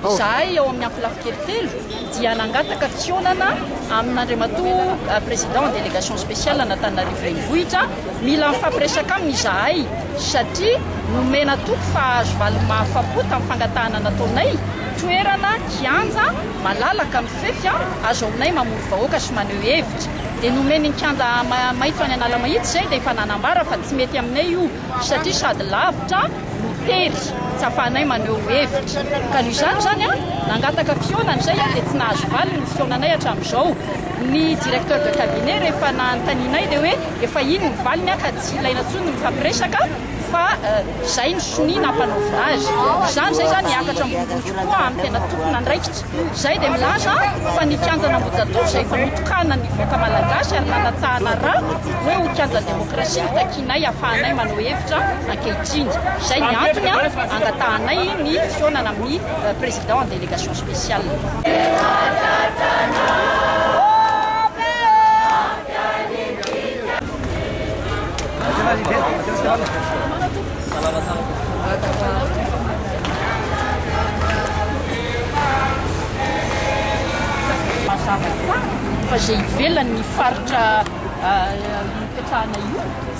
Izahay ao amin'ny Ampilafikely telo dia nangataka fihaonana amin'Andriamatoa Président Délégation Spéciale an'Antananarivo Renivohitra, mila mifampiresaka aminy izahay satria nomena toky fa hahazo valiny mahafapo tamin'ny fangatahana nataonay toerana, kianja, malalaka, mifefy, azo aminay mamory vahoaka sy maneho hevitra. Dia nomeny ny kianja maitso any Analamahitsy izay dia efa nanambara fa tsy mety aminay io. satria sady lavitra no tery, tsy afahanay maneho hevitra, ka noho izany izany nangataka fihaonana izay dia tsy nahazo valiny ny fihaonanay hatramin'izao, ny directeur de cabinet rehefa nanontanianay dia hoe efa iny ny valiny ka tsy ilaina intsony ny mifampiresaka fa izay ny sonia nampanaovina azy, izany izay izany miakatra ambonimbony kokoa amin'ny tena tompon'andraikitra. Izay dia milaza fa ny kianjan'Ambohijatovo izay efa notokanan'ny vahoaka malagasy ary nanatsahana ra hoe ho kianjan'ny demokrasia no takianay hafahanay manao hevitra ankehitriny. Izay ny antony angatahanay ny fihaonana amin'ny Président en délégation spéciale. Mazava tsara fa izay ivelan'ny faritra ipetrahana io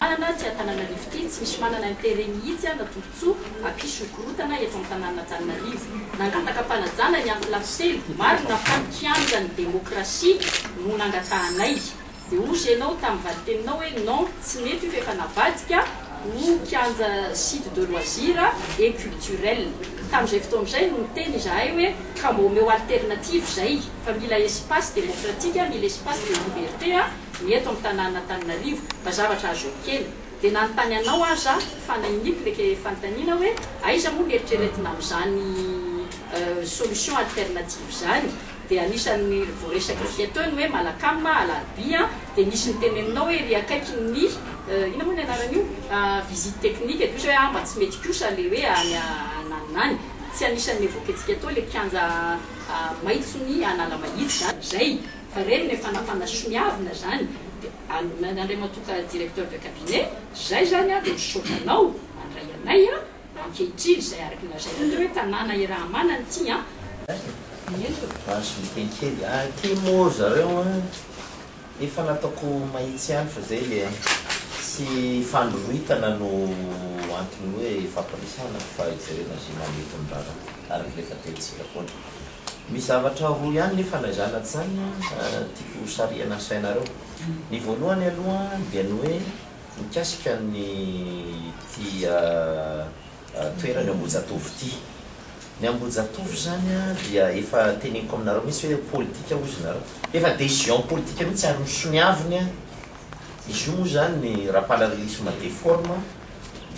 Tanana tsy Antananarivo ity tsy misy manana intérêt mihitsy an na tombotsoa hampisy korontana eto amin'ny tanan'Antananarivo. Nangataka am-panajana ny afo lafosely marina fa ny kianjan'ny demokrasia no nangatahanay. Dia hozy ianao tamin'ny valiteninao hoe non tsy mety io fa efa navadika ho kianja site de loisir et culturel. Tamin'izay fotoana izay no niteny izahay hoe ka mba omeo alternative izay fa mila espace demokratika, mila espace de liberté an. Ny eto amin'ny tanàn'Antananarivo, mba zavatra azo ekena. Dia nanontany anao aza aho fa nainiko ilay fanontaniana hoe aiza moa ny eritreretina amin'izany solution alternative izany? Dia anisan'ny voaresaka fia teo ny hoe Malacam, Alarobia, dia nisy niteny aminao hoe ery akaikin'ny inona moa ny anaran'io? visite technique, dia kosa hoe ah mba tsy mety kosa ilay hoe any ananona any. Tsy anisan'ny evoquentsika teo ilay kianja maitson'i Analamahitsy izany. Izay. Fa reny le fanafana soniavina zany de alona Andriamatoa ka directeur de cabinet zay zany a de misaotra anao mandray anay a ankehitriny zay araky ny lazainao teo hoe tanàna irahamanana ity a. Azo soloky kely a ty mo zareo a efa nataoko mahitsy ihany fa zay le tsy fandroritana no antony hoe fampandresana fa hijerena ze mahamety ny raharaha araky le fataontsika foana. Misy zavatra roa ihany nefa ilay zanatry izany tiako ho sarihana sainareo. Ny voalohany aloha dia ny hoe mikasika ny ity toerany Ambohijatovo ity. Ny Ambohijatovo izany dia efa teneniko aminareo mihitsy hoe politika hozy nareo. Efa décision politika mihitsy ary misoniaviny an. Izy io moa izany ny Rapalala Lisma de forme.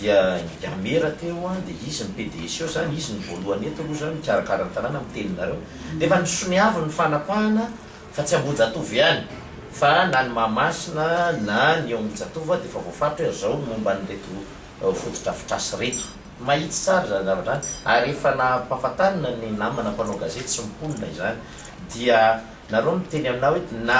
Dia Yamera teo an, dia izy ny PDS eo zany, izy ny voalohany eto aloha zany mikarakara ny tanàna amin'ny teninareo. Dia efa nisoniavo ny fanapahana fa tsy Ambohijatovo ihany fa na ny Mahamasina na ny eo amin'ny Jatovo ary dia efa voafaritra hoe azao ny momba an'ireto fotodrafitrasa ireto. Mahitsy tsara izany zavatra izany ary efa nampahafantarina ny namana mpanao gazety sy mponina izany. Dia nareo miteny aminah hoe na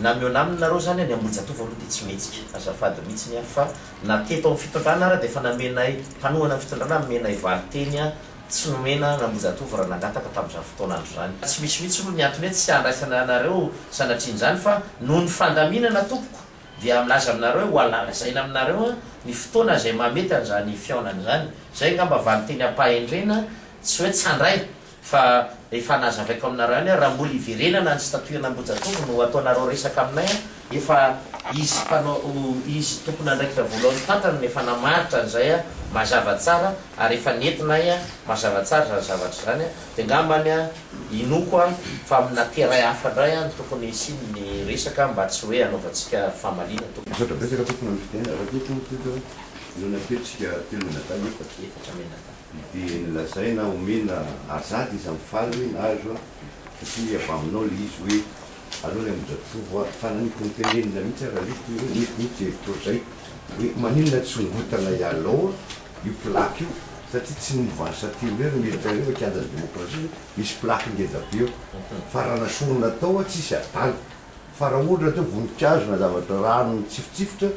na mihaona aminy nareo zany an, ny Ambohijatovo aloha dia tsy mihetsika. Azafady mihitsiny an fa. na teto amin'ny fitondrana ara dia efa namenay mpanohana ny fitondrana nomenay valinteny a tsy nomena an'Ambohijatovo raha nangataka tamin'izany fotoana andro izany. Tsy misy mihitsy aloha ny antony hoe tsy handraisana anareo sanatrian'izany fa noho ny fandaminana tompoko dia milaza aminareo hoe ho alalazaina aminareo a ny fotoana izay mahamety an'izany fihaonana izany. Izay angamba valinteny am-pahendrena tsy hoe tsy handray Fa efa nazavaiko aminareo ihany aho, raha mbola hiverenana any statut-na Ambohijatovo no ataonareo resaka aminay an, efa izy mpanao, izy tompon'andraikitra voalohany fantany no efa namaritra an'izay an, mazava tsara, ary efa nentinay an, mazava tsara izany zavatra izany an, dia angambany an, inoako an, fa amina terrain hafa indray an no tokony hisiany ny resaka mba tsy hoe hanaovantsika famaliana tompoko. Misaotra betsaka tompoko noho ny fitenenana, raha tia tompoko, ireo nateritsika telo menadahy, efatra. Efatra menadahy. Dia nolazaina omena azady izy amin'ny faly hoe nahazo aho satria avy aminao ilay izy hoe aleo ilay mijatovo aho. Fa nanipy ny tenenina mihitsy aho Ralito hoe nety mihitsy izay fotoana izay hoe maninona tsy hongotana ialaw io plaque io satria tsy ny mouvance satiro irery no mihevitra ireo fa kianjan'ny demokrasia misy plaque ngeza be eo fa raha nasorina tao aho tsisy adala. Fa raha ohatra teo vonikazo na zavatra rano mitsifitsifitra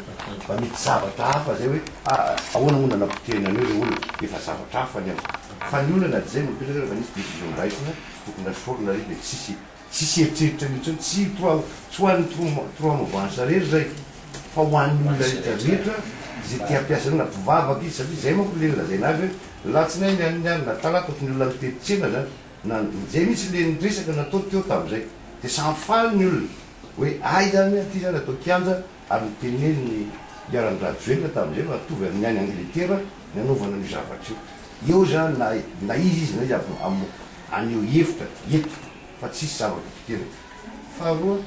mba mety zavatra hafa zay hoe ah ahoana moa nanapotehina an'io le olona efa zavatra hafa ny azy fa ny olona na dia zay no mipetraka rehefa nisy décision ndraisina tokony nasorina re dia tsisy tsisy eritreritra an'io tsony tsy trois tsy ho an'ny trois trois mouvance rery zay fa ho an'ny olona rehetra rehetra ze te hampiasa an'io na mpivavaka izy satria zay manko le lazaina azy hoe ny latsinainy an'ny alina talata ohatry ny olona mitety tsena zany na izay mihitsy le ny resaka nataony teo tamin'izay dia samy faly ny olona hoe hay zany ity zany atao kianja ary ny tenenin'i Iharan'i Rajoelina tamin'izay fa mitovy amin'ny any Angletera ny anaovana an'io zavatra io eo zany na na izy izy na izy aby am haneho hevitra eto fa tsisy zava-potonkena faharoa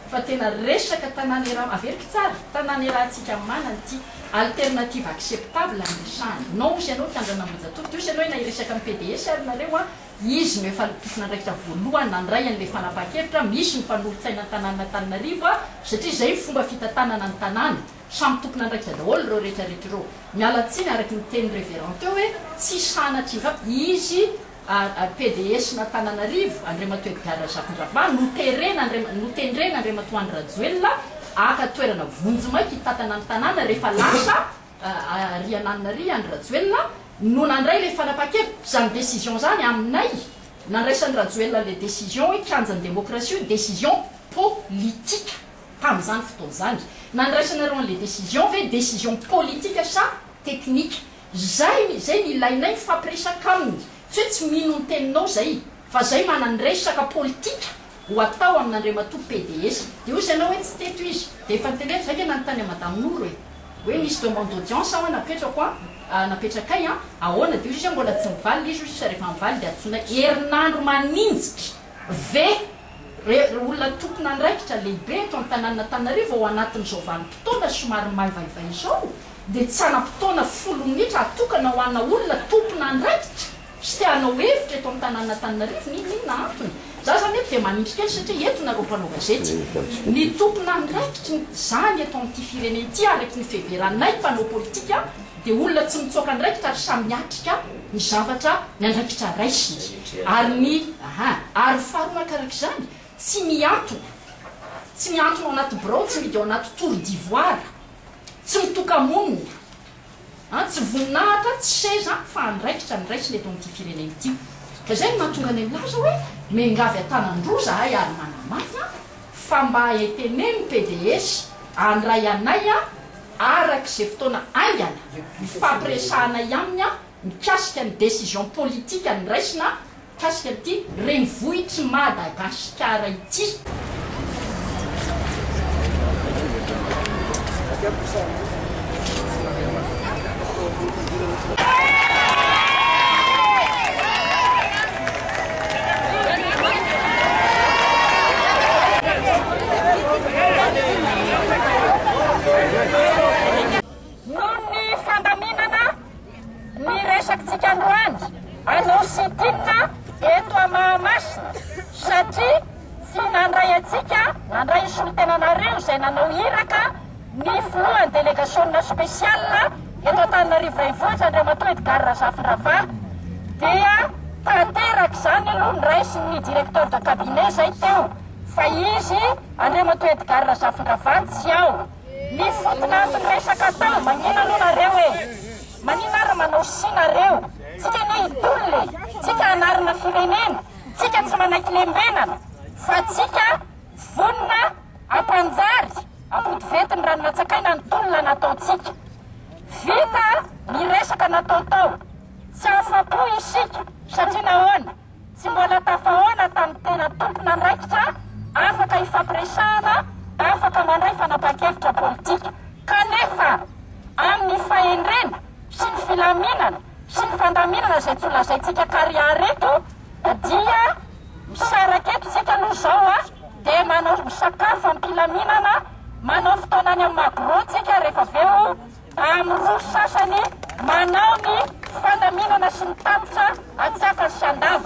Fa tena resaka tanàna iaraha, averiko tsara, tanàna irahantsika manana ity, alternative acceptable no resahana. Non hozy ianao mpiandry an'Ambohijatovo, de hozy ianao na hiresaka amin'ny PDS ary nareo an, izy no efa tompon'andraikitra voalohany nandray an'ilay fanapahan-kevitra, misy ny mpanolotsaina an-tanànan'Antananarivo an, satria izay ny fomba fitantanana ny tanàna, samy tompon'andraikitra daholo ireo rehetra rehetra ireo. Miala tsiny araky ny tenin'ny reverend teo hoe tsy sanatry ny vava, izy, APDS n'Antananarivo, Andriamatoa Edgard Razafindrava, noterena notendrena Andriamatoa Andry Rajoelina haka toerana vonjimaika hitantana ny tanàna rehefa lasa ary ananona ary Andry Rajoelina no nandray ilay fanapahan-kevitra izany décision izany aminay nandraisan'i Rajoelina ilay décision hoe kianjan'ny démocratie io décision politique tamin'izany fotoana izany nandraisanareo an'ilay décision ve décision politique sa technique Zay ny zay ny ilainay mifampiresaka aminy tsy hoe tsy mino ny teninao zay fa zay mananresaka politika ho atao amin'Andriamatoa PDS de ozy ianao hoe tsy teto izy de efa nitendrena zay nge nanontany an'i Madame Noro e hoe misy demande d'audience hoa napetrako an napetrakay an ahoana de ozy izy hoe mbola tsy mivalina izy ozy izy refa mivalina de antsoinay herinandro maninjitra ve re olona tompon'andraikitra lehibe eto an-tanàn'Antananarivo ao anatin'izao vanim-potoana somary maivaivay izao? dia tsy hanam-potoana folo minitra hatokana ho ana olona tompon'andraikitra sy te hanao hevitra eto amin'ny tanànan'Antananarivo ny ininona antony. Za zany eto dia manindry kely satria eto nareo mpanao gazety. Ny tompon'andraikitry ny zany eto amin'ity firenena ity araky ny fiheveranay mpanao politika dia olona tsy mitsoaka andraikitra ary samy miatrika ny zavatra ny andraikitra raisiny ary ny aha ary faharoanakarak'izany tsy mihantona tsy mihantona ao anaty birao tsy midy ao anaty tour d'ivoire Tsy mitoka-monina an, tsy voninahitra, tsy seza fa andraikitra ny raisina eto amin'ity firenena ity. Ka izay no mahatonga anay milaza hoe miangavy an-tanan-droa izahay ary manamafy an, fa mba eteneno PDS handray anay an, araka izay fotoana haingana ifampiresahanay aminy an, mikasika ny décision politique noraisina mikasika an'ity renivohitr'i Madagasikara ity. Ny resakitsika androany anao sy Tinina eto à Mahamasina satria tsy nandray antsika nandray ny solontenanareo izay nanao iraka ny filohan'ny delegasionina spéciale eto Antananarivo Renivohitra Andriamatoa Edgard Razafindrava dia tanteraka izany aloha ny raisin'ny directeur de cabinet izay teo fa izy Andriamatoa Edgard Razafindrava tsy ao Mifotona amin resaka tao manina aloha nareo e! Manina ary manao si nareo? Tsika anie hitolona e! Tsika hanarina firenena! Tsika tsy manaiky lembenana! Fa tsika vonona hampanjary ampotivety ny rano natsakaina ny tolona nataontsika! Vita ny resaka natao tao! Tsy afa-po isika! Satria nahoana? Tsy mbola tafahaona tamin'ny tena tompon'andraikitra afaka ifampiresahana, afaka mandray fanapahan-kevitra politika. Kanefa, amin'ny fahendrena sy ny filaminana sy ny fandaminana izay tsy ho lazaintsika kariary eto dia misaraka eto isika aloha izao a! dia manao misakafo am-pilaminana, manao fotoana any amin'ny magro tsika rehefa avy eo amin'ny roa sasany manao ny fandaminana sy ny tatitra atsakany sy andavany.